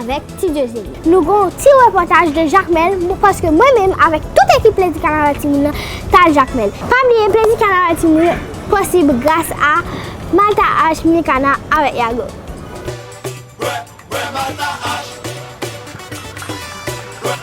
avèk ti Dieuzene. Nou gen yon ti repòtaj de Jakmèl paske mwen menm avèk tout ekip Plezi Kanaval Timoun nan t al Jakmèl. Pa bliye Plezi Kanaval Timoun yo posib gras a Malta Arts, Micana avèk Yago.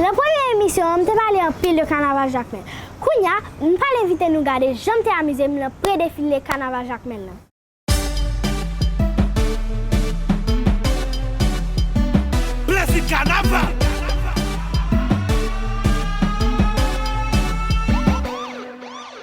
Lan premye emisyon an m te pale anpil de kanaval Jakmèl. Kounya m pral envite nou gade jan m te amize m lan pre defile kanaval Jakmèl lan. Plezi kanaval!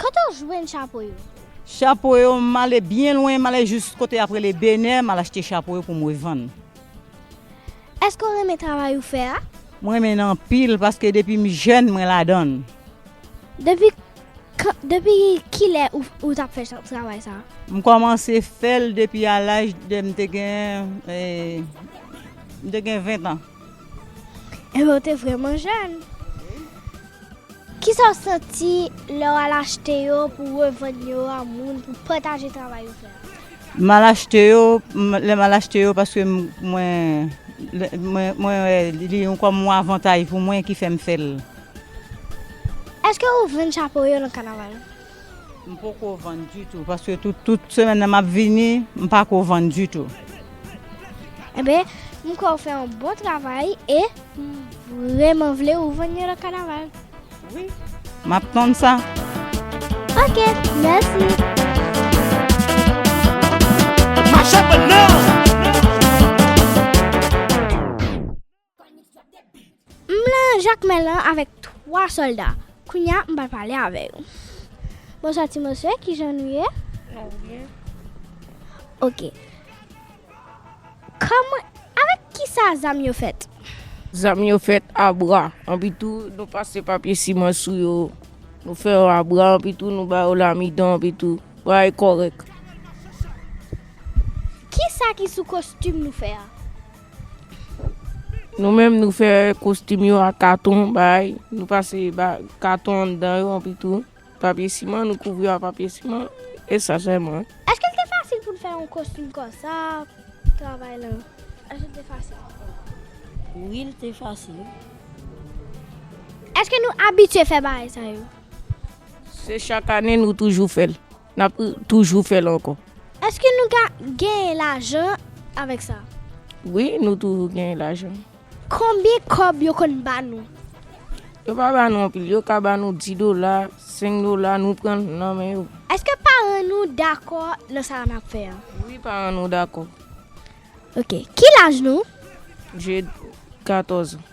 Kote w jwenn chapo yo? Chapo yo, m ale byen lwen, m ale jous kote y ap rele Benè, m al achte chapo yo pou m revann. Èske w renmen travay ou fè a? M renmen l anpil paske depi m jèn mwen ladan l. Depi kan, depi ki lè ou t ap fè travay sa a? M kòmanse fè l depi a laj de, m te gen, m te gen ventan. Enben ou te vrèman jèn. Kisa w santi lè w al achte yo pou w revann yo a moun pou pataje travay ou fè a? M al achte yo, lè m al achte yo paske mwen mwen wè li yon kòm yon avantaj pou mwen ki fè m fè l. Èske ou vann chapo yo nan kanaval? M poko vann ditou paske tout semèn nan map vini m pako vann ditou. Enben m kwè ou fè yon bon travay e m vrèman vle ou vann yon lòt kanaval. Wi map tann sa. Ok mèsi. M lan Jakmèl lan avèk 3 sòlda. Kounya m pral pale avè yo. Bonswa ti mosye, kijan nou ye? Nou byen. Ok. Kòman, avèk kisa zam yo fèt? Zam yo fèt a bra. Anpitou nou pase papye siman sou yo. Nou fè yo a bra anpitou nou ba yo lamidon anpitou. Bagay kòrèk. Kisa ki sou kostim nou fè a? Nou menm nou fè kostim yo ak katon bay, nou pase katon anndan yo anpi tou papye siman nou kouvri yo ak papye siman e sa sèlman. Èske l te fasil pou n fè yon kostim konsa? Travay lan, èske l te fasil? Wi, l te fasil. Èske nou abitye fè bagay sa yo? Se chak ane nou toujou fè l. N ap toujou fè l ankò. Èske nou ka genyen lajan avèk sa? Wi, nou toujou genyen lajan. Konbyen kòb yo konn ba nou? Yo pa ba nou anpil. Yo ka ba nou di dola, senk dola, nou pran l nan men yo. Èske paran nou dakò nan sa n ap fè an? Wi, paran nou dakò. Ok. Ki laj nou? Jed, katòz an.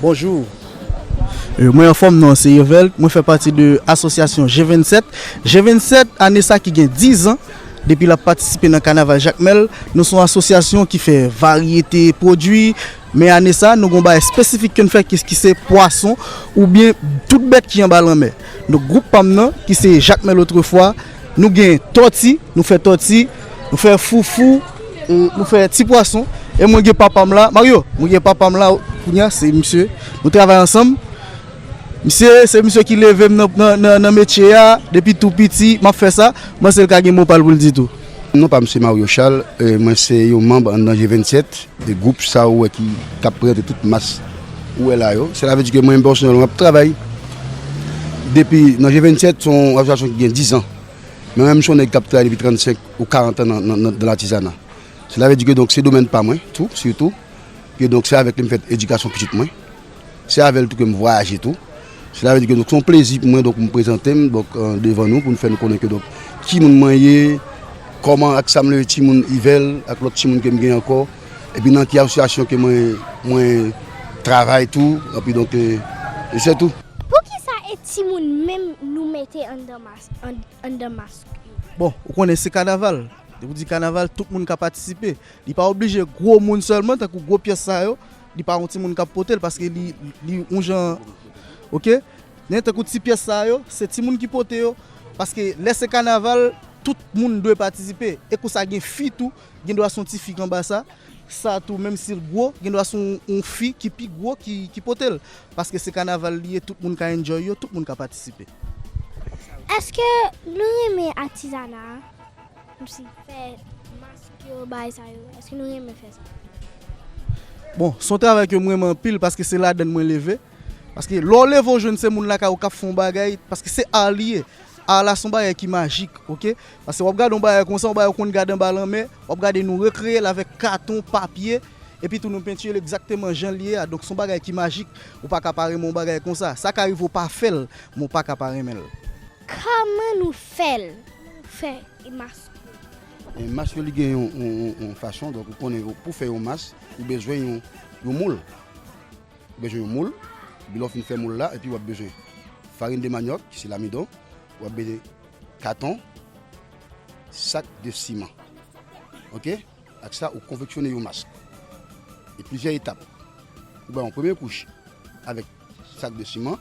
Bonjour Mwen anfom non se Irvelt mwen fè pati de asosyasyon je 27 je 27 ane sa ki gen 10 ans depi lap patisipe nan kanaval jakmel nou son asosyasyon ki fè varyete pwodwi men ane sa nou gon bagay espesifik ke n fè ki se pwason oubyen tout bèt ki anba lanmè donk group pam nan ki se jakmel otrefwa. Nou gen tòti, nou fè tòti, nou fè foufou, nou fè ti pwason. E mwen gen papa m la, Mario, mwen gen papa m la, kounya se misye, nou travay ansanm. Misye, se misye ki leve m nan metye a, depi tou piti, m ap fè sa. M panse l ka gen mo pa l pou l di tou. Non pa m se Mario Charles, mwen se yon manb anndan G27, gwoup sa ou wè ki t ap prezante tout mas. Ou wè la yo, sela vle di ke mwen menm pèsonèlman m ap travay depi nan je 27, son asosiyasyon ki gen 10 an. Men mwen menm son nèg k ap travay depi 35 ou 40 an nan latizana. Sela vle di ke donk se domèn pa mwen tou, sitou. Ke donk se avèk li m fèt edikasyon pitit mwen. Se avè l tou ke m vwayaje tou. Sela vle di ke donk se yon plezi pou mwen donk pou m prezante m donk devan nou pou m fè nou konnen ke donk ki moun mwen ye, kòman ak sa m leve ti moun Yvel ak lòt ti moun ke m gen ankò epi nan ki asosyasyon ke mwen mwen travay tou epi donk e se tou. Poukisa e ti moun menm nou mete anndan mask anndan mask yo? Bon, ou konnen se kanaval, depi w di kanaval tout moun ka patisipe. Li pa oblije gwo moun sèlman tankou gwo pyès sa yo. Li pa yon timoun kap potel paske li yon jan ok men tankou ti pyès sa yo se timoun ki pote yo paske lè se kanaval tout moun dwe patisipe e kou sa gen fi tou gendwa son ti fi kanba sa sa tou menm sil gwo gendwa son yon fi ki pi gwo ki potel paske se kanaval li ye tout moun ka enjoy yo tout moun ka patisipe. Eske nou renmen atizana a? Msi fè mask yo bay sa yo eske nou renmen fè sa. Bon son travay ke m renmen anpil paske se ladann mwen leve paske lè w leve w jwenn se moun lakay ou k ap fè yon bagay paske se ar li ye ar la se yon bagay ki majik ok paske w ap gade yon bagay konsa yon bagay ou konn gade anba lanmè w ap gade nou rekreye l avèk katon papye epi tou nou pentire l egzakteman jan li ye a donk se yon bagay ki majik ou pa ka pa renmen yon bagay konsa sa ka rive ou pa fè l men w pa ka pa renmen l. Kman nou fel fe y mask ou. Mask yo li gen yon fason donk ou konnen pou fè yon mask ou bezwen yon moul ou bezwen yon moul epi lè w fin fè moul la epi wap bezwen farin de manyòk ki se lamidon wap bezwen katon sak de siman ok. Ak sa, ou konfeksyone yon mask e plizyè etap. Ou bay yon premye kouch avèk sak de siman,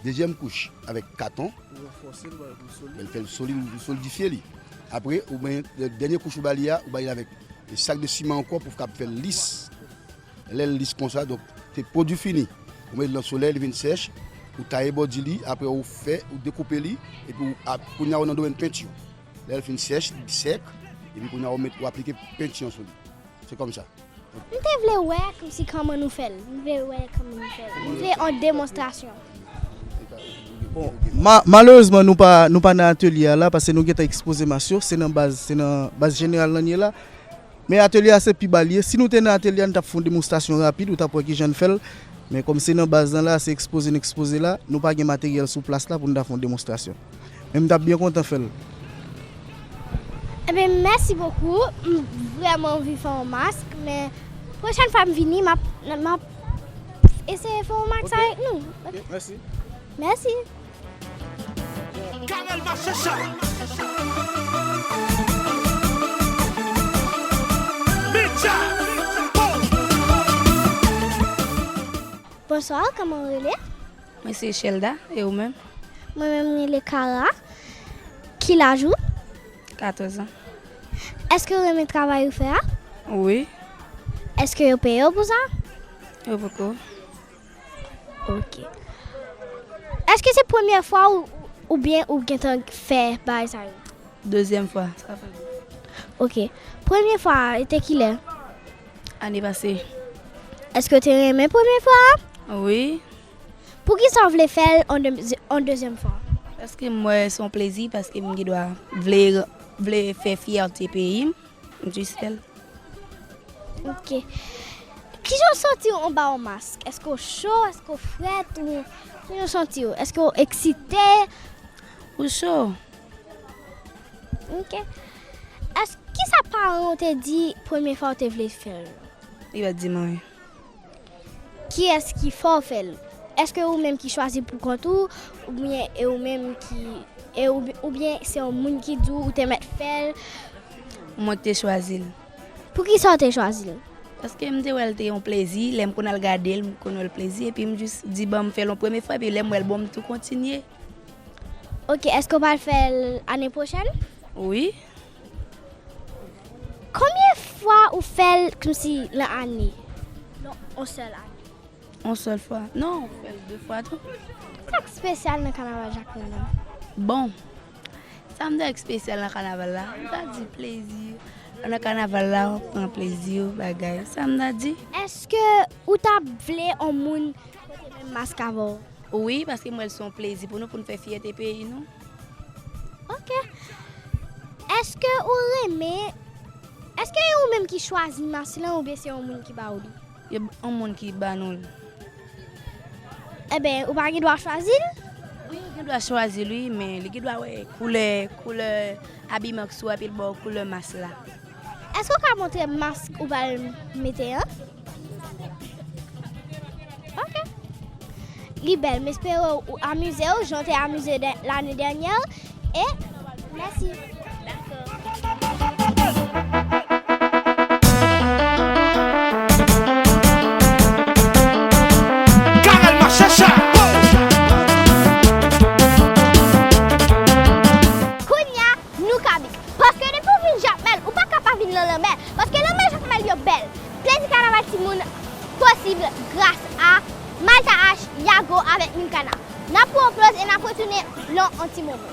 dezyèm kouch avèk katon, lè l fè l solid ou solidifye li. Apre, ou bay dènye kouch ou ba li a, ou bay li avèk sak de siman ankò pou kab fè l lis. Lè l lis konsa, donk se pwodui fini. Ou met li nan solèy, li vin sèch, ou taye bòdi li, apre ou fè, ou dekoupe li epi ou, kounye a ou nan domèn penti. Lè l fin sèch, li di sèk, epi kounye a ou met ou aplike penti an sou li. Se kòm sa. M te vle wè kòm si kòman nou fè l. M vle wè kòman nou fè l. M vle yon demonstrasyon. Bon, malerezman nou pa nou pa nan atelye a la paske nou gentan ekspoze mas yo. Se nan baz se nan baz jeneral la n ye la. Men atelye a se pi ba l ye. Si nou te nan atelye a n t ap fè yon demonstrasyon rapid ou t ap wè kijan n fè l. Men kòm se nan baz lan la a se ekspoze n ekspoze la, nou pa gen materyèl sou plas la pou n ta fè yon demonstrasyon. Men m tap byen kontan fèl. Ebyen mèsi bokou m vrèman anvi fè yon mask men pwochèn fwa m vini map map eseye fè yon mask avèk nou ok mèsi mèsi. Carel Machecha Mitcha oh. Bonsoir kòman ou rele? Mwen se Chelda e ou menm? Mwen menm m rele Kara. Ki laj ou? 14 an. Eske ou renmen travay ou fè a? Wi. Eske yo peye w pou sa? Yo poko. Ok. Eske se premyè fwa ou oubyen ou gentan fè bagay sa yo? Dezyèm fwa. Sa fè 2. Ok. Premye fwa a te kilè? Ane pase. Eske ou te renmen premye fwa a? Wi. Poukisa w vle fè l yon dezyèm fwa? Paske m wè se yon plezi, paske m gen dwa vle fè fyète peyi m. M jis fè l. Ok. Kijan w santi w anba yon mask? Èske w cho, èske w frèt? Kijan w santi w? Èske w eksite? Ou cho. Ok. Kisa paran w te di premye fwa w te vle fè l? Li pa t di m anyen. Kiyès ki fè w fè l? Èske ou menm ki chwazi pou kont ou oubyen e ou menm ki e ou oubyen se yon moun ki di w ou te mèt fè l? Mwen k te chwazi l. Poukisa w te chwazi l? Paske m te wè l te yon plezi, lè m konn al gade l m konn wè l plezi epi m jis di ban m fè l yon premye fwa epi lè m wè l bon m tou kontinye. Ok, èske w pral fè l ane pwochèn? Wi, Konbyen fwa ou fèl kmsi lan ane? Non on sèl ane. On sèl fwa non ou fèl de fwa tou. Sak spesyal nan kanaval jacmel la? Bon sam ta di ki spesyal nan kanaval la m ta di plezi lè w nan kanaval la wap pran plezi w bagay sa m ta di. Eske ou ta vle on moun pote menm mask avèw? Wi paske m wèl son plezi pou nou poun fè fyète peyi nou. Ok. Eske ou renmen Eske e ou menm ki chwazi mas lan oubyen se yon moun ki ba ou li? E yon moun ki ba nou li. Eben, ou pa gen dwa chwazi l? Wi, ou gen dwa chwazi l wi, men li gen dwa wè koulè, koulè abiman ki sou ou epi l ba ou koulè mas la. Eske ou ka montre m mas ou pral mete an? Ok. Li bèl, m espere ou amize ou jan w te amize lane dènyè e mèsi. Kounye a, Nou kabik. Paske depi ou vin jakmel ou paka pa vin lan lanmè paske lanmè jakmel yo bèl plezi kanaval timoun posib gras a malta H, yago avèk milkana nap pran yon poz e nap retounen lan yon ti moman.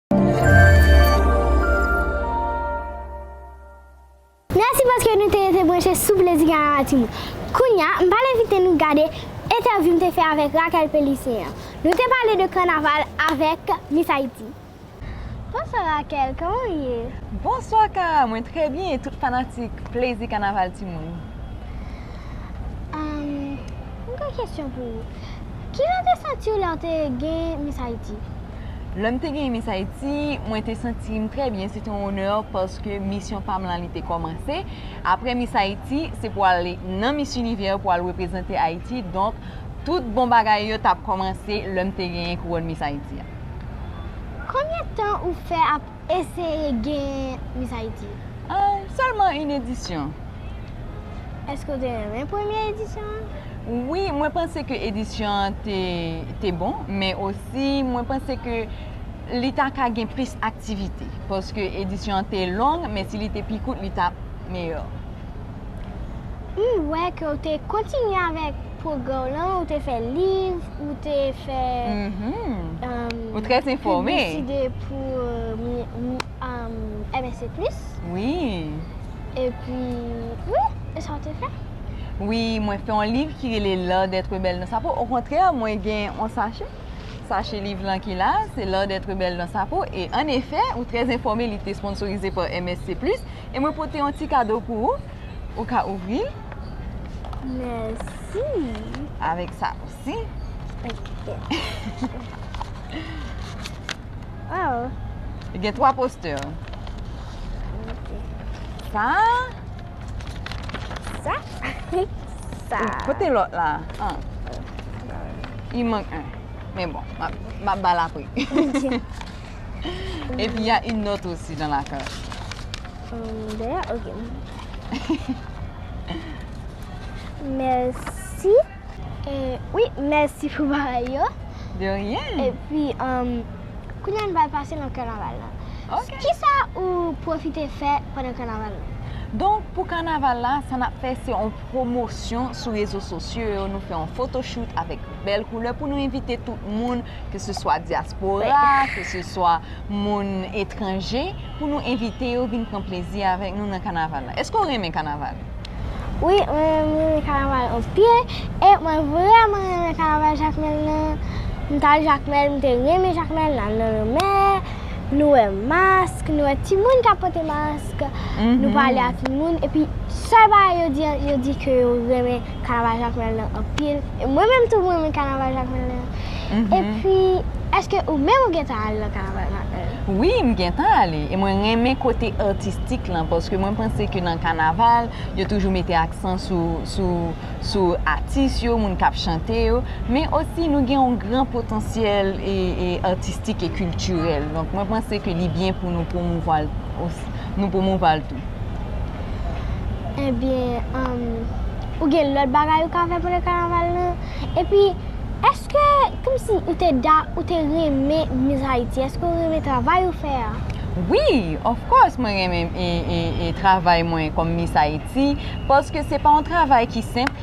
Mèsi paske nou te rete branche sou Plezi Gayan Latimou. Kounye a, m pral envite nou gade entèvyou m te fè avèk Raquel Pélissin an. Nou te pale de kanaval avèk Miss Haïti. Bonswa Raquel, kòman ou ye? Bonswa Kara, mwen trè byen e tout fanatik Plezi Kanaval timoun. M gen kesyon pou ou. Kijan w te santi w lè w te gen Miss Haïti? Lè m te gen Miss Haïti, mwen te santi m trè byen. Se te yon onè paske misyon pa m lan li te kòmanse. Apre Miss Haïti, se pou ale nan Miss Univers pou al reprezante Haïti. Donk, tout bon bagay yo t ap kòmanse lè m te genyen kouwòn Miss Haïti a. Konbyen tan ou fè ap Eseye gen Miss Haïti. Ahh sèlman yn edisyon. Eske ou te renmen premye edisyon an? Wi mwen panse ke edisyon an te bon men osi mwen panse ke li ta ka gen plis aktivite paske edisyon an te long men si li te pi kout li tap meyò. M wè ke ou te kontinye avèk pwogrè w lan, ou te fè liv, ou te fè pibliside pou MSC Plus. Wi. E pi, wi, e sa ou te fè? Wi, mwen fè yon liv ki rele L'art d'être belle dans sa peau. Okontrè, mwen gen yon sachè, sachè liv lan ki la, se L'art d'être belle dans sa peau. E an efè, ou trè enfòme, li te esponsorize pa MSC Plus. E mwen pote yon ti kado pou ou. Ou ka ouvri l. Mèsi. Avèk sa osi. Ok. Waw. Li gen 3 postè. Ok. Sa. Sa. Sa. Pote lòt la. An. Li mank 1. Men bon. M ap ba l apre. Ok. Epi ya yn not osi dan la kach. Hum dèyè ok. Mèsi. Wi mèsi pou bagay yo. De ryen. Epi hum kounya n pral pase nan kanaval la. Ok. Kisa ou pwofite fè pandan kanaval la? Donk pou kanaval la sa nap fè se yon pwomosyon sou rezo sosyo yo nou fè yon fotochout avèk bèl koulè pou nou envite tout moun. ke se swa dyaspora, ke se swa moun etranje, pou nou envite yo vin pran plezi avèk nou nan kanaval la. Eske ou renmen kanaval? Wi, mwen renmen kanaval anpil, e mwen vreman renmen kanaval Jakmèl lan. M t al Jakmèl, m te renmen Jakmèl, n al nan lanmè, nou wè mask, nou wè timoun k ap pote mask, nou pale ak moun, epi sèl bagay yo di, yo di ke yo renmen. kanaval Jakmèl lan anpil. E mwen menm tou m renmen kanaval Jakmèl lan. E pi, èske ou menm ou gentan ale nan kanaval Jakmèl lan? Wi, m gentan ale. E mwen renmen kote atistik lan paske mwen panse ke nan kanaval, yo toujou mete aksan sou atis yo, moun k ap chante yo. Men osi nou gen yon gran potansyèl atistik e kiltirèl. Donk mwen panse ke li byen pou nou pwomouvwa l tou. Ebyen, ou gen lòt bagay ou ka fè pandan kanaval la? Epi, èske kòmsi ou te da, ou te renmen Miss Haiti? Èske ou renmen travay ou fè a? Wi, of course mwen renmen travay mwen kòm Miss Haiti, paske se pa yon travay ki senp.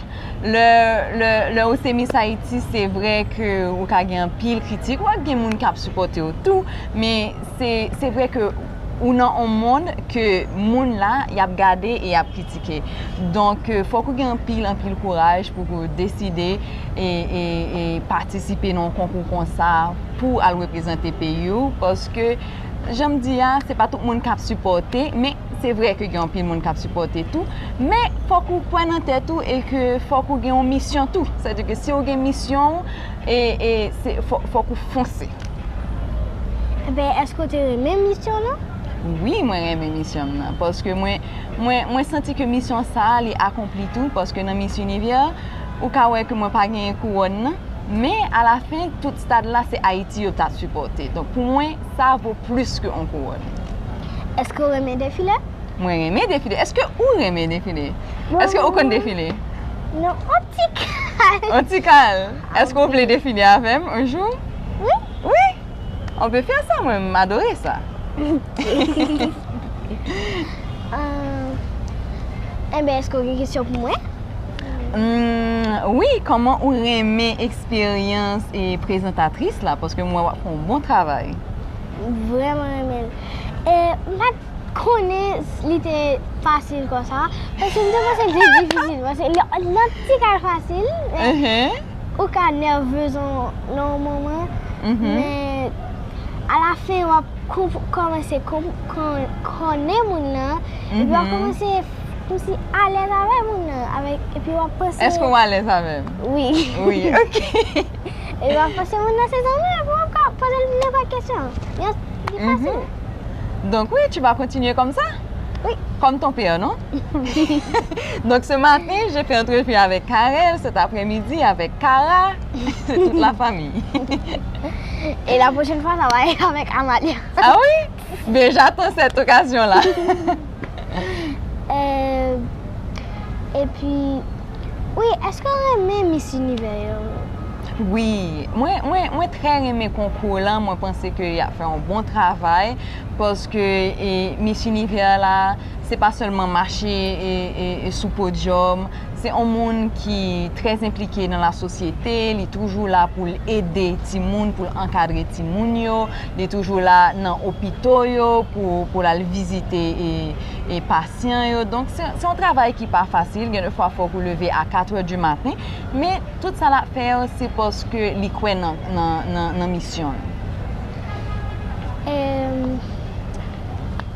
Lè ou se Miss Haiti, se vre ke ou ka gen anpil kritik, ou ap gen moun k ap sipòte ou tou, men se vre ke. Ou nan on mond ke moun la yap gade e yap kritike. Donk fòk ou gen anpil anpil kouraj pou ke ou deside e patisipe nan on konkou konsa pou al reprezante peyi ou. Paske janm di a se pa tout moun kap sipòte men se vre ke gen anpil moun kap sipòte tou. Men fòk ou kwè nan tèt ou e ke fòk ou gen on misyon tou. Sa vle di ke si ou gen misyon ou e fòk ou fonse. Ebyen eske ou te renmen misyon lan? Wi mwen renmen misyon m nan paske mwen mwen santi ke misyon sa li akonpli tou paske nan miss univers ou ka wè ke mwen pa genyen kouròn nan men a la fen tout stad la se Ayiti yo ta sipòte donk pou mwen sa vo plis ke on kouròn. Eske ou renmen defile? Mwen renmen defile. Eske ou renmen defile? Eske ou konn defile? Non on ti kal. On ti kal? Eske ou vle define avem un jou? Wi. Wi? On peut faire ça mwen m adore sa. Ahh enben eske ou gen kesyon pou mwen? Umm wi koman ou renmen eksperyans e prezantatris la paske m wè wap fè yon bon travay. M vreman renmen l. E m pa konnen li te fasil konsa paske m te panse li te difisil paske lè ti kay fasil ou ka nèvez nan yon moman men a la fen wap kòmanse konnen moun nan epi wap kòmanse kòmsi alèz avè moun nan epi wap panse èske ou alèz avèm? wi wi ok E wap fòse moun nan se zanmi w epi wap ka poze l nenpòt kesyon. Yon, li fasil. Donk wi, tu vas continuer comme ça? Oui. Comme ton père, non? Donc ce matin, j'ai fait entrevue avec Carel, cet après-midi avec Kara, c'est toute la famille. Et la prochaine fois, ça va être avec Amalia. Ah oui? Bien j'attends cette occasion là. Epi wi eske w renmen Miss Univers yo? Wi, mwen trè renmen konkou w lan, mwen panse ke y ap fè yon bon travay, paske Miss Univers la se pa sèlman mache sou podyòm. Se on moun ki trè enplike nan la sosyete, li toujou la pou l ede timoun, pou l ankadre timoun yo, li toujou la nan opito yo pou l al vizite e pasyan yo. Donk se yon travay ki pa fasil, gen de fwa fòk ou leve a 4 è di maten, men tout sa l ap fè yo se paske li kwè nan misyon l.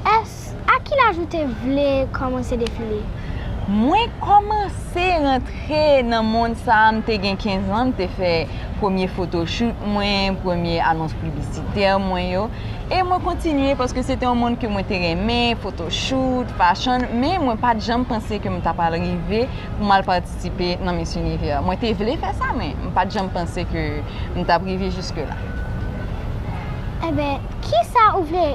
Èske. A ki laj ou te vle kòmanse defile? Mwen kòmanse rantre nan mond sa a m te gen 15 an, m te fè premye fotochout mwen, premye anons piblisitè mwen yo. E mwen kontinye paske se te yon mond ke mwen te renmen, fotochout, fashion, men mwen pa t janm panse ke m ta pral rive pou m al patisipe nan Miss Univers. Mwen te vle fè sa men m pa t janm panse ke m t ap rive jiske la. Enben, kisa ou vle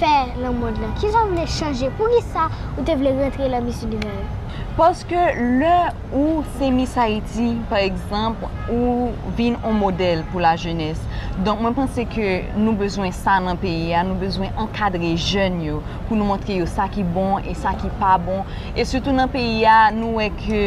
fè nan mond lan? Kisa ou vle chanje? Poukisa ou te vle rantre lan Miss Univers? Paske lè ou se Miss Ayiti pa egzanp ou vin on modèl pou la jenès. Donk mwen panse ke nou bezwen sa nan peyi a, nou bezwen ankadre jèn yo pou nou montre yo sa ki bon e sa ki pa bon. E sitou nan peyi a nou wè ke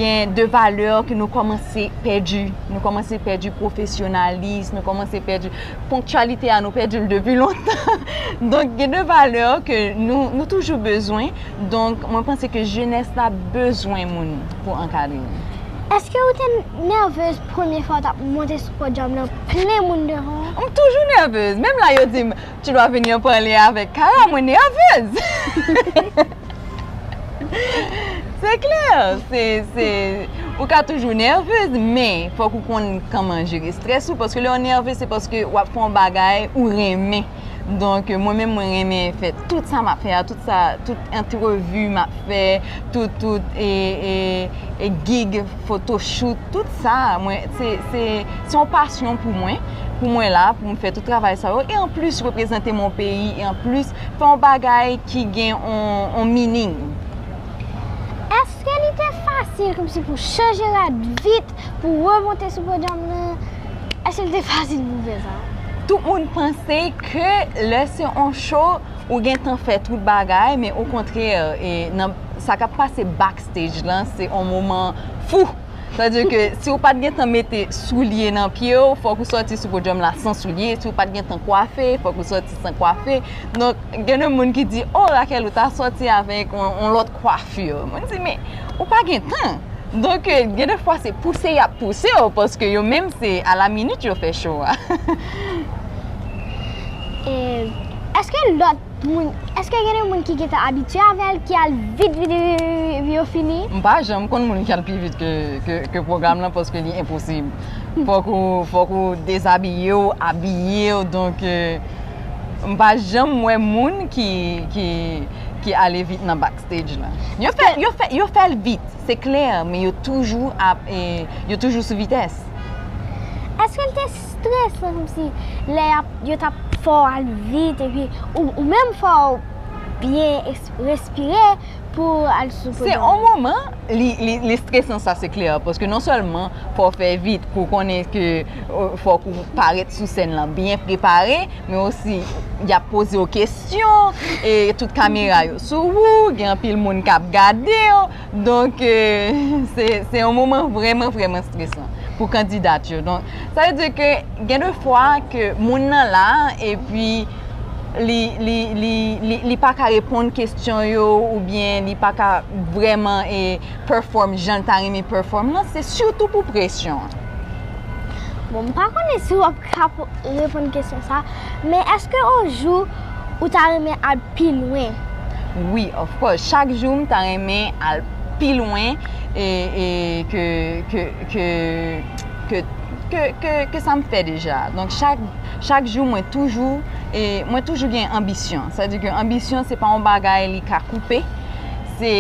gen de valè ke nou kòmanse pèdi. Nou kòmanse pèdi pwofesyonalis, nou kòmanse pèdi. Ponktyalite a nou pèdi l depi lontan. Donk gen de valè ke nou toujou bezwen. Donk mwen panse ke jenès la bezwen moun pou ankadre yo. Eske ou te nèvez premye fwa ou tap monte sou podyòm lan plen moun devan ou? M toujou nèvez. Menm la yo di m, tu dois venir parler avec Kara, mwen nèvez. Se klè, se, se, ou ka toujou nèvez, men, fòk ou konn kòman jere strès ou, paske lè ou nèvez se paske w ap fè yon bagay ou renmen, donk mwen menm mwen renmen fè tout sa m ap fè a, tout sa, tout antrevi m ap fè, tout, tout, e, e, e gig, fotochout, tout sa, mwen, se, se, se yon pasyon pou mwen, pou mwen la, pou m fè tout travay sa yo, e anplis reprezante mon peyi, e anplis Fè yon bagay ki gen yon meaning. Eske li te fasil komsi pou chanje rad vit pou remonte sou podyòm nan? Eske li te fasil pou fè sa? Tout moun panse ke lè se yon show ou gentan fè tout bagay men okontrè sa kap pase backstage lan se yon moman fou. Sa di ke si ou pat gentan mete soulye nan pye ou, fòk ou sòti sou podyòm la san soulye, si ou pat gentan kwafe, fòk ou sòti san kwafe. Donk, gen de moun ki di, o Raquel ou ta sòti avèk yon lòt kwafi. Mwen di, men, ou pa gen tan. Donk, gen de fwa se pouse y ap pouse ou, paske yo menm se a la minit yo fè cho a. Eske lòt. Moun, eske gen de moun ki gentan abitye avèl ki al vit vit vit vit epi yo fini? M pa janm konn moun ki al pi vit ke pwogram lan paske li enposib. Fòk ou, fòk ou dezabiye w, abiye w donk m pa janm wè moun ki, ki, ki ale vit nan back stage la. Yo fè, yo fè, yo fè l vit, se klè men yo toujou ap, yo toujou sou vitès. Eske l te. Stress lan kom si lè yap yo tap fè w al vit epi ou menm fò w byen respire pou w al sou podium nan. Se on moman li stresan sa se klè paske non sèlman fò w fè vit pou w konnen ke fòk ou parèt sou sèn lan byen prepare men osi yap poze w kesyon e tout kamera yo sou ou gen anpil moun kap gade w. Donk, se yon moman vrèman vrèman stresan pou kandidat yo. Donk, sa vle di ke gen de fwa ke moun nan la epi li pa ka reponn kesyon yo oubyen li pa ka vrèman e pèfòm jan l ta renmen pèfòm lan, se sitou pou presyon an. Bon, m pa konnen si w ap ka reponn kesyon sa a, men èske yon jou. ou ta renmen al pi lwen? Wi, of course, chak jou m ta renmen al pi lwen ke sa m fè deja. Donk chak jou mwen toujou gen anbisyon. Sa di ke anbisyon se pa yon bagay li ka koupe, se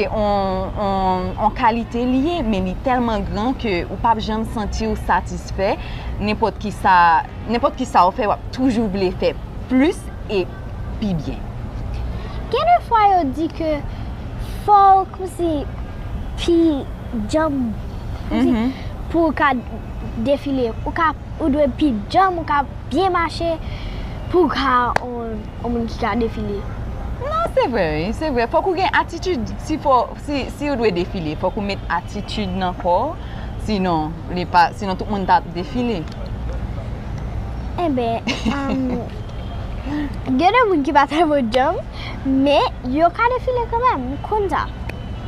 yon kalite li ye men li tèlman gran ke ou pap janm santi ou satisfè nenpòt ki sa. Nenpòt ki sa ou fè, wap toujou vle fè plis e pi byen. Gen de fwa yo di ke fòw kousi pi djanm kousi mhm. pou ou ka defile. Ou ka, ou dwe pi djanm, ou ka byen mache pou ou ka on moun ki ka defile. Non, se vre, se vre. Fòk ou gen atitid si fò. Si ou dwe defile fòk ou met atitid nan kò ou sinon li pa sinon tout moun tap defile. Enben gen de moun ki pa trè bon djanm men yo ka defile kanmèm ou konn sa.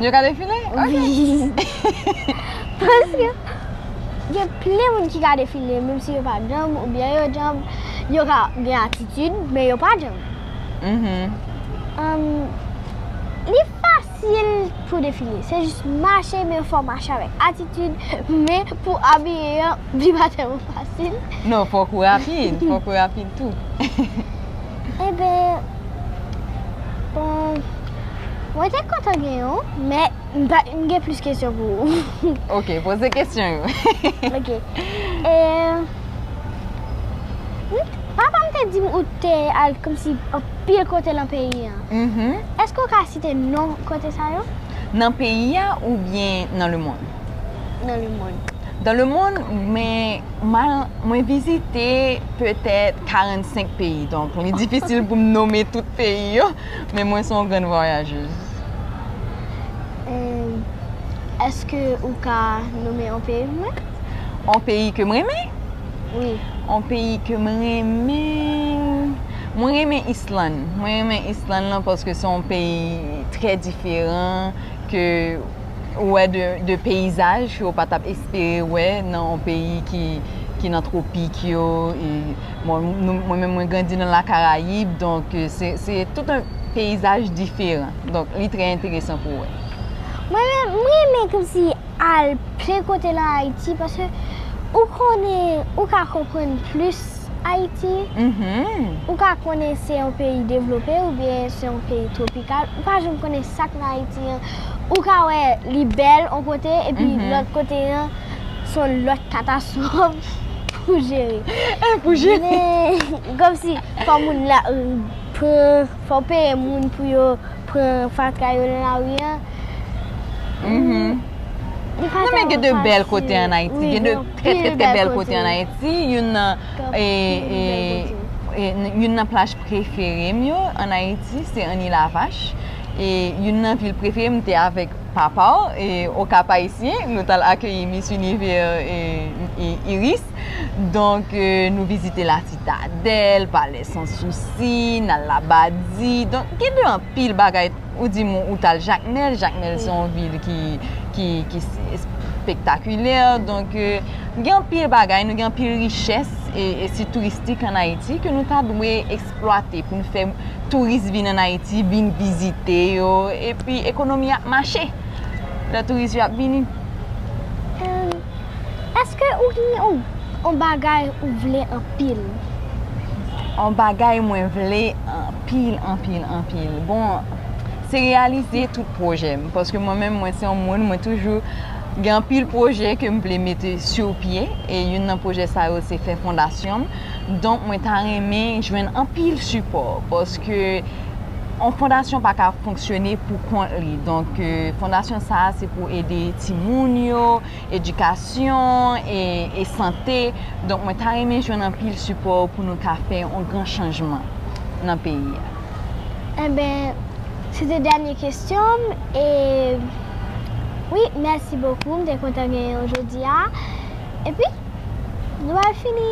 Yo ka defile? Wi. Paske gen plen moun ki ka defile menm si yo pa djanm oubyen yo djanm yo ka gen atitid men yo pa djanm. Li. Fasil pou define, se jis mache men fò w mache avèk atitid, men pou abiye an li pa tèlman fasil. Non, fòk ou rapid, fòk ou rapid tou. Eben, bon, mwen te kontan gen yo, men m pa, m gen plis kesyon pou ou. Ok, poze kesyon yo. Ok, e, papa m te di m ou te al kòmsi. pil kote lan peyi a. Eske ou ka site non kote sa yo? Nan peyi a oubyen nan lemonn? Nan lemonn. Dans le monde men mwen vizite petèt 45 peyi donk li difisil pou m nome tout peyi yo men mwen son grann vwayajez. Eske ou ka nome yon peyi pou mwen? Yon peyi ke m renmen? Wi. Yon peyi ke m renmen. Mwen renmen Island, mwen renmen Island lan paske se yon peyi trè diferan ke ou wè de peyizaj ke ou pa tap espere wè nan yon peyi ki nan tropik yo e bon mwen menm mwen grandi nan la karayib donk se tout yon peyizaj diferan donk li trè enteresan pou wè. Mwen menm m renmen kòmsi al plen kote nan Ayiti paske ou konnen ou ka konprann plis. Ayiti, ou ka konnen se yon peyi devlope oubyen se yon peyi twopikal, ou pa janm konnen sa k nan Ayiti an. Ou ka wè li bèl yon kote epi lòt kote an se yon lòt katastwòf pou jere. Pou jere. Kòmsi fò moun la pran, fò w peye moun pou yo pran fatra yo nan lari an. Li pa janm fasil. Non men gen de bèl kote an Ayiti. Trè trè trè bèl kote an Ayiti, youn nan youn nan plaj prefere m yo an Ayiti se Annie la vache e youn nan vil prefere m te avèk papa w e o Kap-Ayisyen nou tal akeyi Miss Univers Iris donk nou vizite la Sitadèl, Palè San Sousi, n al Labadi donk gen de anpil bagay. Ou di m ou t al Jakmèl, Jakmèl se yon vil ki espektakilè, donk gen anpil bagay, nou gen anpil richès e sit touristik an Ayiti ke nou ta dwe eksplwate pou nou fè touris vin an Ayiti, vin vizite yo, epi ekonomi ap mache, lè touris yo ap vini. Eske ou gnyn on bagay ou vle anpil? On bagay mwen vle anpil anpil anpil bon se reyalize tout pwojè m paske mwen menm mwen se on moun mwen toujou gen anpil pwojè ke m vle mete su pye e youn nan pwojè sa yo se fè fondasyon m donk mwen ta renmen jwenn anpil sipò paske On fondasyon pa ka fonksyone pou kont li. Donk, fondasyon sa a se pou ede timoun yo, edikasyon e sante. Donk, mwen ta renmen jwenn anpil sipò ou pou nou ka fè on gran chanjman nan peyi a. Enben, se te dènye kesyon m. E, wi, mèsi bokou. M te kontan genyen w jodi a. Epi Nou pral fini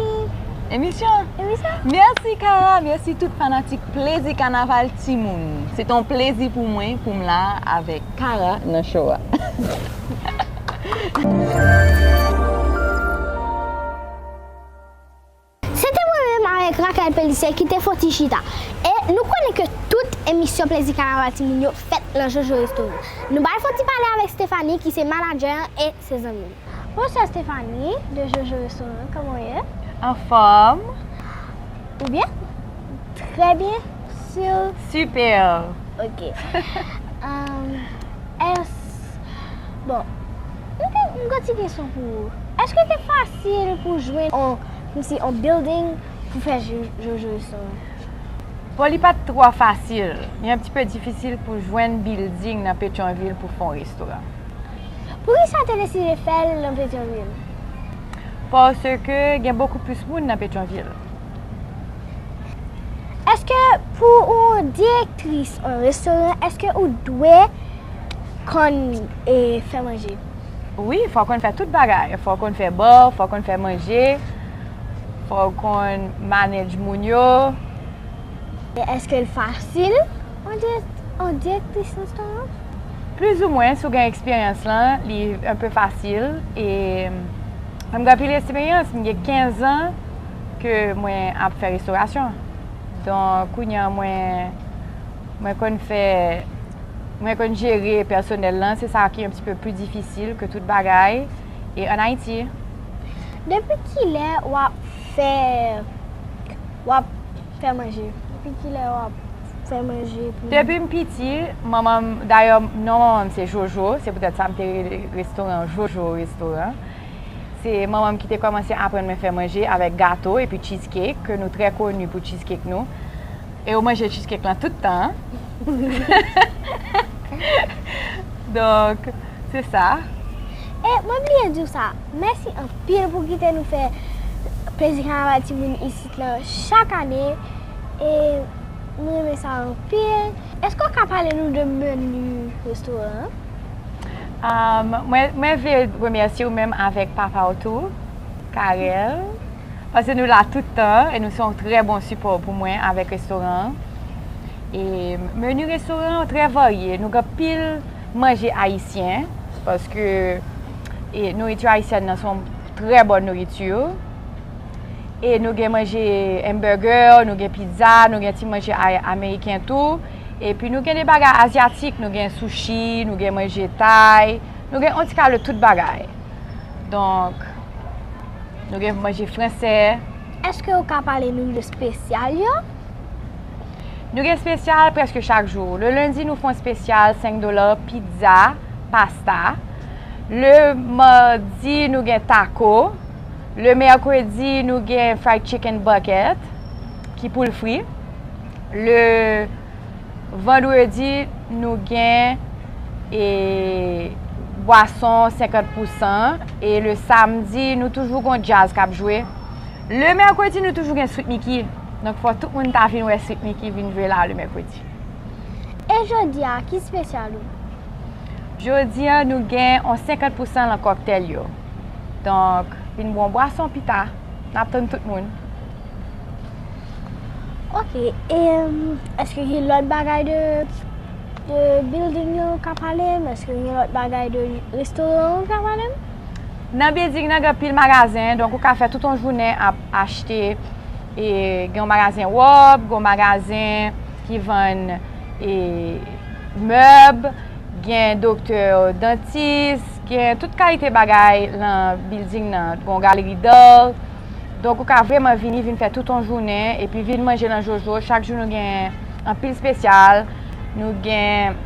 Emisyon Emisyon Merci Kara merci tout fanatik plezi kanaval timoun se ton plezi pou mwen pou m la avek Kara nan show a. Se te mwen menm avèk Raquel Pélissier ki te fon ti chita. E nou konnen ke tout emisyon Plezi Kanaval Timoun yo fèt nan Jojo Restaurant. Nou bay fon ti pale avèk Stéphanie ki se manadjè an e se zanmi m. Bonswa Stéphanie de Jojo Restaurant, kòman w ye? Anfòm. Ou byen? Trè byen, sur? Super! Ok. Èske, bon, m gen yon ti kesyon pou ou. Èske te fasil? Sil pou jwenn on kmsi on building pou fè jojo yo sove. Bon li pat trò fasil, li un petit peu difficile pou jwenn building nan petyonvil pou fon restoran. Poukisa te deside fèl nan petyonvil? Paske gen bokou plis moun nan petyonvil. Eske pou ou direktris on restoran eske ou dwe konn fè manje? Wi fò w konn fè tout bagay, fò w konn fè bò, fò w konn fè manje, fò w konn manedj moun yo. Men èske l fasil yon direktris restoran? Plis ou mwen, si w gen eksperyans lan, li enpe fasil e m gen anpil eksperyans, m gen 15 zan ke mwen ap fè restorasyon. Donk kounye an mwen konn fè. Mwen konn jere pèsonèl lan, se sa ki yon ti peu pli difisil ke tout bagay e an Ayiti. Depi kilè wap fè wap fè manje? Depi kilè wap fè manje pou. Depim piti manmanm dayè non manmanm se jojo se poutèt sa mte rele restoran an jojo restoran se manmanm kite kòmanse aprann mwen fè manje avèk gato epi cheesecake ke nou trè koni pou cheesecake nou E ou manje cheesecake lan tout tan. Donk, se sa. E mwen bliye di w sa, mèsi anpil pou kite nou fè plezi kanaval timoun isit lan chak ane. E m renmen sa anpil. Èske ou ka pale nou de meni restoran an? Mwen vle remèsye ou menm avèk papa w tou, Carel. Pase nou la tout tan e nou se yon trè bon sipò pou mwen avèk restoran an. E menu restoran an trè varye, nou gen anpil manje ayisyen paske nouritur ayisyèn nan se yon trè bon nouritur. E nou gen manje hamburger, nou gen pizza, nou gen ti manje ameriken tou. E pi nou gen de bagay azyatik, nou gen sushi, nou gen manje thai, nou gen yon ti kal de tout bagay. Donk, nou gen pou manje fransè. Eske ou ka pale nou de spesyal yo? Nou gen spesyal preske chak jou. Le lendi nou fon spesyal 5 dola, pizza, pasta. Le mardi nou gen taco. Le mercredi nou gen fried chicken bucket ki poul fri. Le. Vandredi nou gen e bwason 50 pou 100 e le samdi nou toujou gon djaz k ap jwe. Le mèkredi nou toujou gen Sweet Micky, donk fò tout moun ta vin wè Sweet Micky vin jwe la le mèkredi. E jodi a ki spesyal ou? Jodi a nou gen on 50 pou 100 lan kòktèl yo. Donk vin bwon bwason pita. Nap tann tout moun. Ok e eske gen lot bagay de building yo ka palem eske gen lot bagay de restoran ou ka palem. Nan building nan gen anpil magazen donk ou ka fè tout yon jounen ap achte e gen yon magazen rob, gen yon magazen ki vann e mèb, gen doktè, dantis. Gen tout kalite bagay nan bilding nan, gon galeri d'art, donk ou ka vreman vini vin fè tout on jounen epi vin manje nan Jojo, chak jou nou gen anpil spesyal, nou gen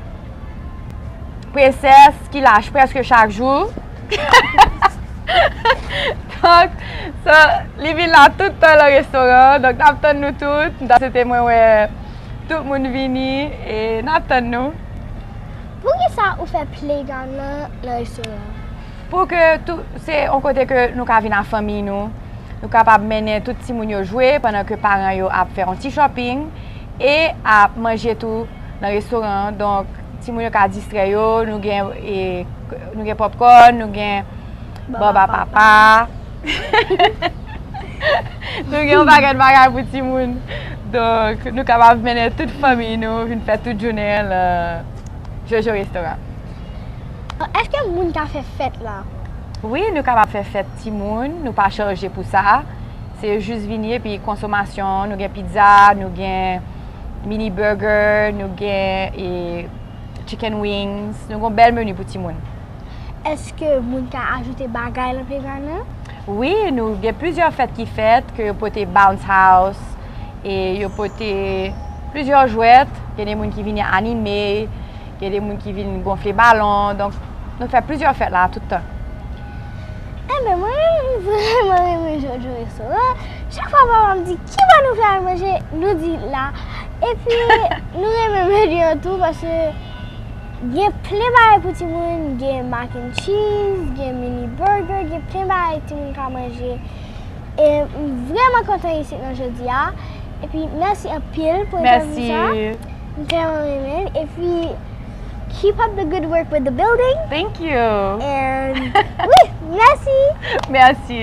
princess ki lach preske chak jou, donk so li vin la tout tan nan restoran an, donk nap tann nou tout, m ta swete mwen wè tout moun vini e nap tann nou. Poukisa ou fè playground nan nan restoran an? Pou ke tou, se yon kote ke nou ka vin a fanmiy nou, nou kapab mennen tout timoun yo jwe pandan ke paran yo ap fè yon ti shopping e ap manje tou nan restoran an. Donk timoun yo ka distrè yo, nou gen e nou gen popcorn, nou gen. Baba papa. Nou gen yon bagay bagay pou ti moun. Donk nou kapab mennen tout fanmi nou vin fè tout jounen la. Jojo Restora. Eske moun ka fè fèt la? Wi nou kapab fè fèt ti moun. Nou pa chaje pou sa. Se jis vini epi konsomasyon. Nou gen pizza, nou gen mini burger, nou gen chicken wings. Nou gen yon bèl meni pou ti moun. Eske moun ka ajoute bagay lan playground lan? Wi, nou gen plizyè fèt ki fèt ke yo pote bounce house e yo pote plizyè jwèt, gen de moun ki vini anime, gen de moun ki vini gonfle balon, donk nou fè plizyè fèt la tout tan. Enben mwen renmen vreman renmen jan w jwe restoran an, chak fwa papa m di ki bò nou vle al manje, nou di la, epi nou renmen menu an tou paske. Gen plen bagay pou timoun, gen mac and cheese, gen mini burger, gen plen bagay timoun ka manje. E m vreman kontan isit lan jodi a. E pi mèsi anpil pou entèvyou sa. Mèsi. M trèman renmen l. E pi keep up the good work with the building. Thank you. And wi, mèsi. Mèsi.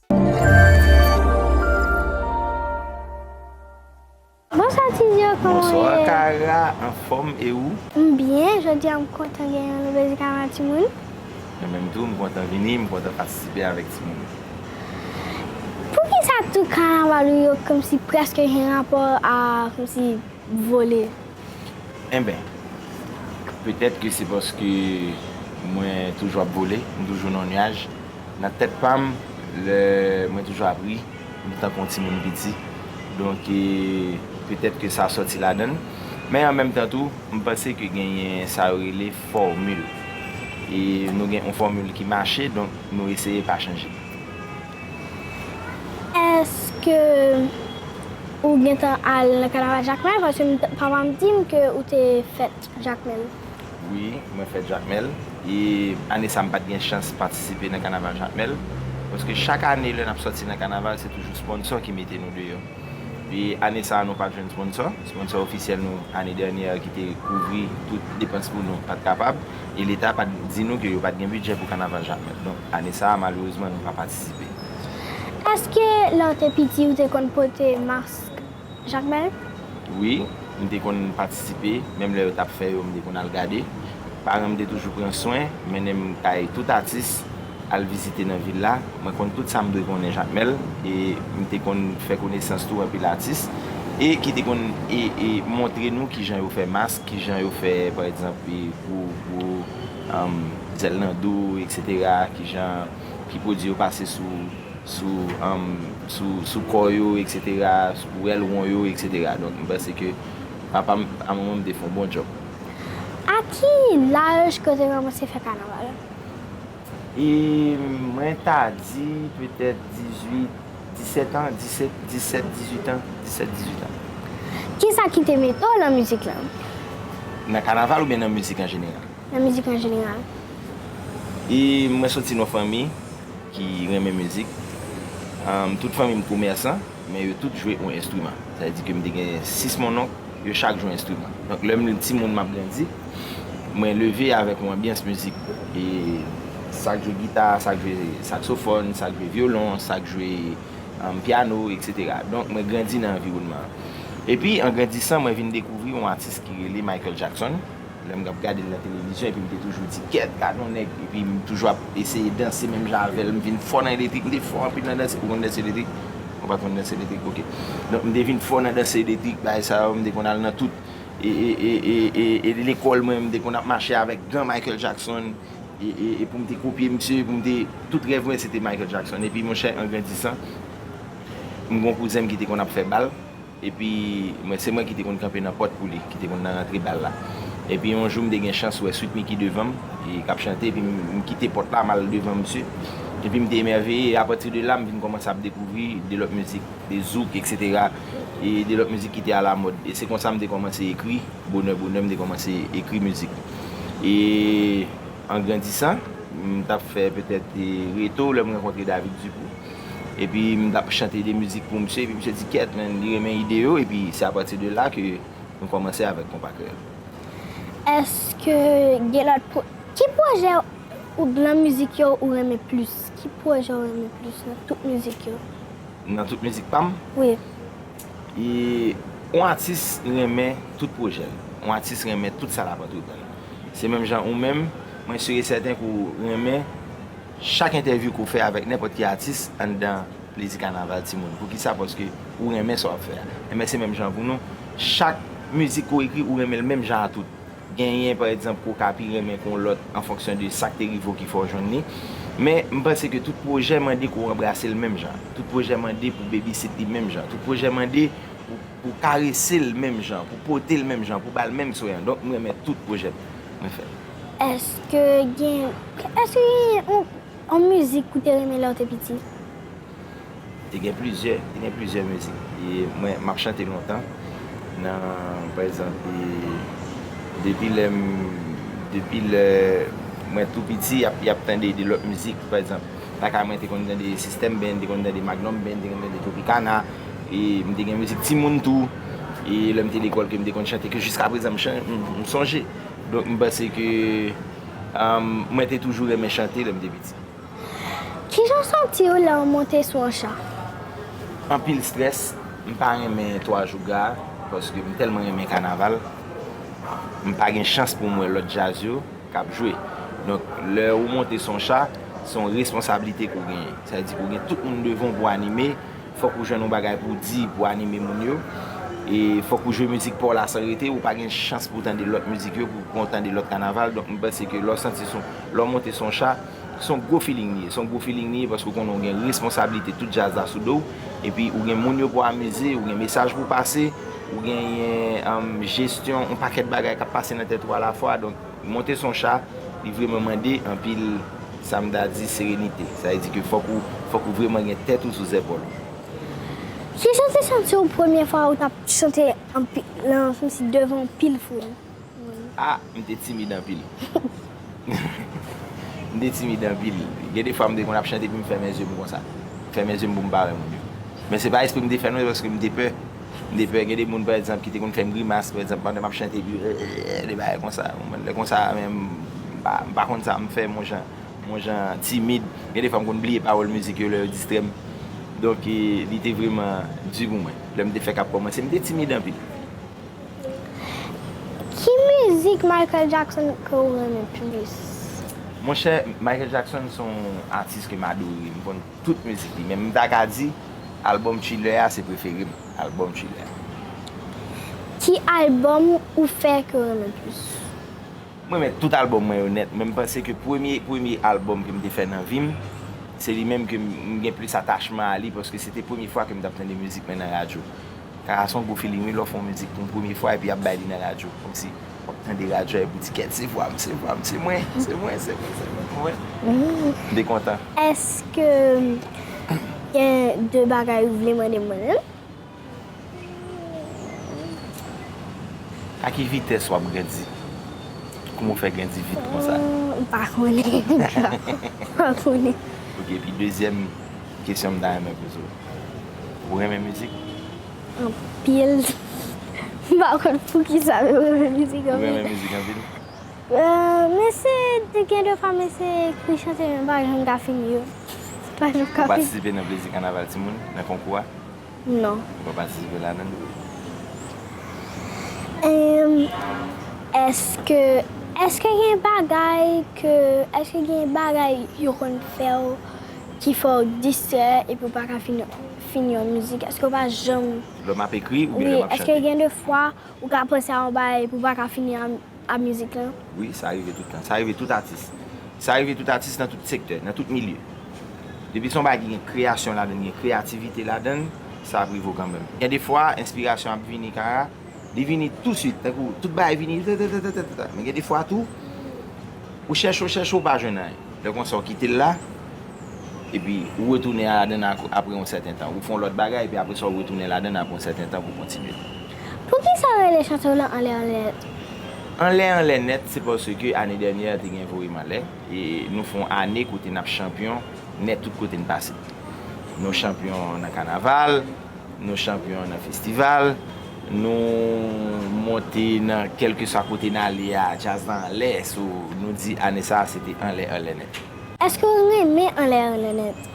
Bonswa tizio koman ou ye. Bonswa kara anfom e ou. M byen jodia m kontan gen yon nouvel zik avan timoun. Mwen menm tou m kontan vini m kontan patisipe avek timoun yo. Poukisa tout kanaval ou yo komsi preske gen rapò a komsi vole. Enben, petèt ke se paske mwen toujou ap vole, m toujou nan yon nyaj. Nan tèt pa m, lè mwen toujou ap ri, m tankou yon timoun piti. Donk, petèt ke sa sòti ladan l. Men an menm tan tou, m panse ke genyen sa yo rele fòmil. E nou gen yon fòmil ki mache, donk nou eseye pa chanje. Eske ou gentan al nan kanaval Jakmèl paske papa m di m ke ou te fèt Jakmèl? Wi, mwen fèt Jakmèl e ane sa m pat gen chans patisipe nan kanaval Jakmèl paske chak ane lè n ap sòti nan kanaval se toujou sponsò ki mete nou deyò e ane sa nou pat jwenn sponsò, sponsò ofisyèl nou ane dènyè ki te kouvri tout depans pou nou pat kapab. e leta pat di nou ke yo pat gen bidjè pou kanaval Jakmèl. Donk ane sa a malerezman nou pa patisipe. Eske lè w te piti ou te konn pote mask Jakmèl? Wi, m te konn patisipe, menm lè yo tap fè yo m te konn al gade. Paran m te toujou pran swen, mennen m kay tout atis. al vizite nan vil la, mwen konn tout sa m dwe konnen Jakmèl e m te konn fè konesans tou anpil atis e ki te konn e e montre nou kijan yo fè mask, kijan yo fè pa egzanp e gwo gwo anm zèl nan do eksetera, kijan ki pwodui yo pase sou sou anm sou sou kò yo eksetera, sou rèl won yo eksetera. Donk m panse ke papa m a manman m te fon bon djòb. A ki laj ke w te kòmanse fè kanaval? E mwen ta di petèt 18, 17 an, 17, 17, 18 an, 17, 18 an. Ki sa ki te mete w nan mizik lan? Nan kanaval oubyen nan mizik an jeneral? Nan mizik an jeneral. E mwen soti nan fanmi ki renmen mizik. Tout fanmi m komèsan. Men yo tout jwe yon enstriman. Sa vle di ke m te gen 6 mononk, yo chak jwe yon enstriman. Donk lè m timoun m ap grandi, mwen leve avèk yon anbyans mizik. E sa k jwe gita, sa k jwe saksofòn, sa k jwe vyolon, sa k jwe pyano, eksetera. Donk mwen grandi nan anviwònman an. Epi an grandisan mwen vin dekouvri yon atis ki rele Michael Jackson. Lè m ap gade l nan televizyon epi m te toujou di kèt gad yon nèg epi m toujou ap eseye danse menm jan avè l m vin fò nan eletrik m te fò anpil nan danse ou konn danse eletrik ou pa konn danse eletrik ok donk m te vin fò nan danse eletrik bagay sa yo m te konn al nan tout e lekòl mwen m te konn ap mache avèk gan Michael Jackson e pou m te kopye misye pou m te tout rèv mwen se te Michael Jackson epi monchè an grandisan m gen yon kouzen m ki te konn ap fè bal Epi, mwen, se mwen ki te konn kanpe nan pòt pou li, ki te konn nan rantre bal la. Epi yon jou m te gen chans wè Sweet Micky devan m, k ap chante, epi m kite pòt la, m al devan misye. Epi m te emèveye, e apati de la m vin kòmanse ap dekouvri de lòt mizik, de zouk, eksetera, e de lòt mizik ki te alamòd. E se konsa m te kòmanse ekri, bonè bonè m te kòmanse ekri mizik. E an grandisan, m t ap fè petèt Reto, lè m rankontre David Dupou. epi m tap chante de mizik pou misye, epi misye di kèt men li renmen ide yo, epi se apati de la ke nou kòmanse avèk Konpa Kreyòl. Eske gen lòt pwojè, ki pwojè ou nan mizik yo ou renmen plis, ki pwojè ou renmen plis nan tout mizik yo? Nan tout mizik pa m? Wi. E, yon atis renmen tout pwojè l, yon atis renmen tout sa lap antreprann, se menm jan ou menm, mwen si e sèten ke w renmen Chak entèvyou ke w fè avèk nenpòt ki atis anndan Plezi Kanaval timoun. Poukisa? Paske ou renmen sa w ap fè a. Enben se menm jan pou nou. Chak mizik ke w ekri, ou renmen l menm jan a tout. Genyen pa egzanp ke w ka pi renmen ke yon lòt an fonksyon de sa k te rive w ki fè w jwenn li. Men, m panse ke tout pwojè mande ke w anbrase l menm jan. Tout pwojè mande pou w babysit li menm jan. Tout pwojè mande pou w karese l menm jan, pou w pote l menm jan, pou w ba l menm swen an. Donk m renmen tout pwojè mwen fè. Eske gen yon mizik ou te renmen lè ou te piti? Te gen plizyè, te gen plizyè mizik mwen map chante lontan nan pa egzanp depi lè m depi lè mwen tou piti yap tande de lòt mizik pa egzanp lakay mwen te konn tande sistèm band te konn tande magnum band te konn tande tropikana e m te gen mizik timoun tou e lè m te lekòl ke m te konn chante ke jiskaprezan m sonje. Donk m panse ke mwen te toujou renmen chante lè m te piti. Kijan w santi w lè w monte sou yon chan? Anpil strès, m pa renmen twa jou gra paske m tèlman renmen kanaval. M pa gen chans pou m wè lòt djaz yo k ap jwe. Donk lè ou monte sou yon cha, se yon responsablite ke w genyen. Sa vle di ke w gen tout moun devan w pou w anime, Fòk ou jwenn yon bagay pou w di pou anime moun yo. E fòk ou jwe mizik pa w la san rete. Ou pa gen chans pou w tande lòt mizik yo, pou w tande lòt kanaval. Donk m panse ke lè w santi son, lè w monte son cha, son gwo filing li ye. Son gwo filing li ye paske ou konnen ou gen responsablite tout djaz la sou do w. Epi ou gen moun yo pou w amize, ou gen mesaj pou w pase, ou genyen jesyon yon pakèt bagay k ap pase nan tèt ou alafwa. Donk. Li monte son cha, li vreman mande anpil sa m ta di serenite. Sa vle di ke fòk ou, fòk ou vreman gen tèt ou sou zèpòl ou. Ki jan w te santi w premye fwa ou t ap chante anpi, nan kòmsi devan anpil foul moun? A, m te timid anpil. M te timid anpil. Gen de fwa m te konn ap chante epi m fèmen zye m konsa. M fèmen zye m pou m pa wè moun yo. Men se pa espre m te fè non, se paske m te pè. M te pè gen de moun pa egzanp ki te konn fè m grimas pa egzanp pandan m ap chante epi eee de bagay konsa. Ou konprann? Lè konsa a menm m pa konn sa m fè m on jan m on jan timid. Gen de fwa m konn bliye pawòl mizik yo lè yo distrè m. Donk li te vreman di pou mwen. Lè m te fèk ap kòmanse m te timid anpil. Ki mizik Michael Jackson ke ou renmen plis? Monchè Michael Jackson se yon atis ke m adore. M konn. Tout mizik li menm m ta ka di album Thriller a se prefere m album Thriller a. Ki album ou fè ke w renmen plis? M renmen tout album mwen yo nèt men m panse ke premye premye album ke m te fè nan vi m se li menm ke m gen plis atachman a li paske se te premye fwa ke m t ap tande mizik mwen nan radyo. Sa a s on gwo feeling wi lè w fè yon mizik pou yon premye fwa epi y ap bay li nan radyo kòmsi Wap tande radyo a epou di kèt se vwam se vwam se mwen se mwen se mwen se mwen mwen wi de kontan. Eske gen de bagay ou vle mande mwen menm? A ki vitès wap grandi? Kouman ou fè grandi vit konsa? M pa konnen ankò m pa konnen. Ok epi dezyèm kesyon m ta renmen poze w ou renmen mizik? anpil m pa konn poukisa men mwen renmen mizik anpil. Ou renmen mizik anpil? M eseye gen de fwa m eseye ekri chante men m pa janm ka fini yo. Ou patisipe nan plezi kanaval timoun nan konkou a? Non. Ou pa patisipe ladan l? Eske eske gen bagay ke eske gen bagay yo konn fè w ki fè w distrè epi w pa ka fini. fini yon mizik eske ou pa janm. Lè map ekri oubyen lè map chante. Wi eske gen de fwa ou ka panse a yon bagay epi ou pa ka fini a mizik lan. Wi sa rive tout tan, sa rive tout atis. Sa rive tout atis nan tout sektè, nan tout milye. Depi son bagay ki gen kreyasyon ladann, gen kreyativite ladann, sa ap rive ou kanmenm. Gen de fwa enspirasyon ap vini kara. Li vini tousuit, tankou tout bagay vini tatatatatata. Men gen de fwa tou, ou chèche, ou chèche, ou pa jwenn anyen. Lè konsa ou kite l la, epi ou retounen ladan l apre yon sèten tan. Ou fè yon lòt bagay, epi apre sa ou retounen ladan l apre yon sèten tan pou w kontinye. Poukisa yo rele chante w lan anlè anlè nèt? Anlè anlè nèt se paske ane dènyè te gen voye m anlè. E nou fè yon ane kote n ap chanpyon nèt tout kote n pase. Nou chanpyon nan kanaval. Nou chanpyon nan festival, nou monte nan kèlkeswa kote n ale a, djaz la anlè, so nou di ane sa a se te anlè anlè nèt. Èske w renmen anlè anlè nèt?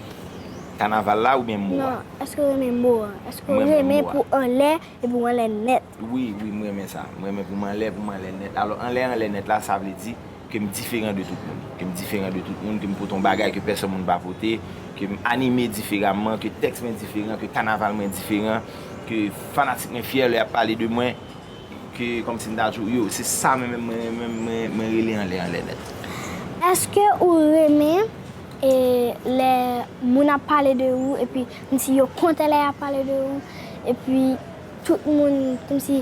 Kanaval la oubyen mo a? Non, èske w renmen mo a? Èske w renmen pou anlè e pou anlè nèt? Wi, wi, m renmen sa. M renmen pou m anlè, pou m anlè nèt. Alò, anlè, anlè nèt la, sa vle di ke m diferan de tout moun. Ke m diferan de tout moun, ke m pote yon bagay ke pèsòn moun pa pote, ke m anime diferaman, ke tèks mwen diferan, ke kanaval mwen diferan, ke fanatik mwen fyè lè y ap pale de mwen, ke kòm si m ta di w, yo, se sa mwen menm, mwen menm, mwen, mwen rele anlè, anlè nèt. Èske ou renmen e lè moun ap pale de ou epi kòm si yo kontan lè y ap pale de ou epi. Tout moun kòmsi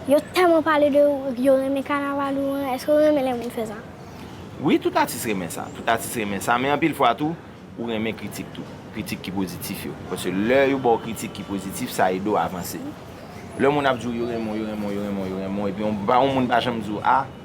yo tèlman pale de ou epi yo renmen kanaval ou an, èske ou renmen lè moun fè sa? Wi, tout atis renmen sa, tout atis renmen sa, men anpil fwa tou ou renmen kritik tou, kritik ki pozitif yo, paske lè yo ba w kritik ki pozitif sa ede w avanse. Lè moun ap di w yo renmen w, yo renmen w, yo renmen w, yo renmen w epi yon moun pa janm di w a,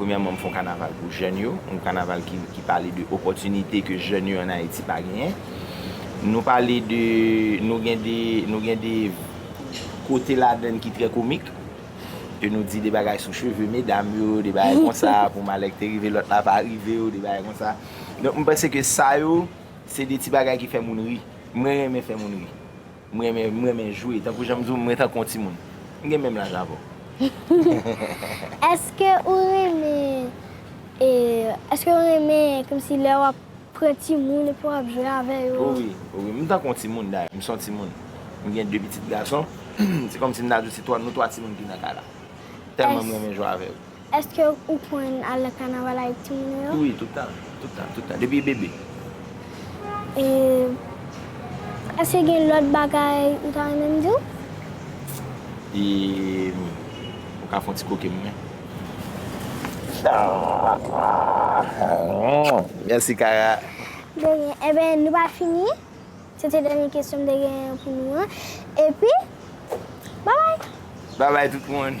Premyèman m fè yon kanaval pou jèn yo, yon kanaval ki pale de opòtinite ke jèn yo an Ayiti pa genyen. Nou pale de, nou gen de, nou gen de kote ladann ki trè komik, ke nou di de bagay sou cheve medam yo, de bagay konsa, pou malè ki te rive lòt la pa rive yo, de bagay konsa. Donk m panse ke sa yo, se de ti bagay ki fè moun ri. Mwen renmen fè moun ri. M renmen m renmen jwe. Tankou jan m di w mwen tankou yon timoun. M gen menm laj avè w. Eske ou renmen eske ou renmen kòmsi lè w ap pran timoun epi w ap jwe avè yo? O wi o wi m tankou yon timoun dayè. M se yon timoun. M gen 2 pitit gason. Se kòmsi m ta di w se 3 nou 3 timoun ki nan kay la. Tèlman m renmen jwe avè yo. Eske ou konn al nan kanaval avèk timoun ou yo? Wi, tout tan, tout tan, tout tan, depi e bebe. E eske gen lòt bagay ou ta renmen m di w? E ou ka fè yon ti kwoke m men? Mèsi Kara. De ryen. Enben, nou pa fini. Se te dènye kesyon m te genyen pou nou an. Epi, babay! Babay tout moun!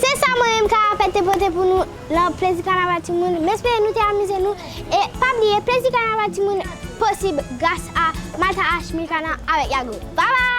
Se sa mwen menm Karapèt te pote pou nou lan Plezi Kanaval Timoun. M espere nou te amize nou. E pa bliye Plezi Kanaval Timoun posib gras a Malta Arts Milcana avèk Yago. Babay!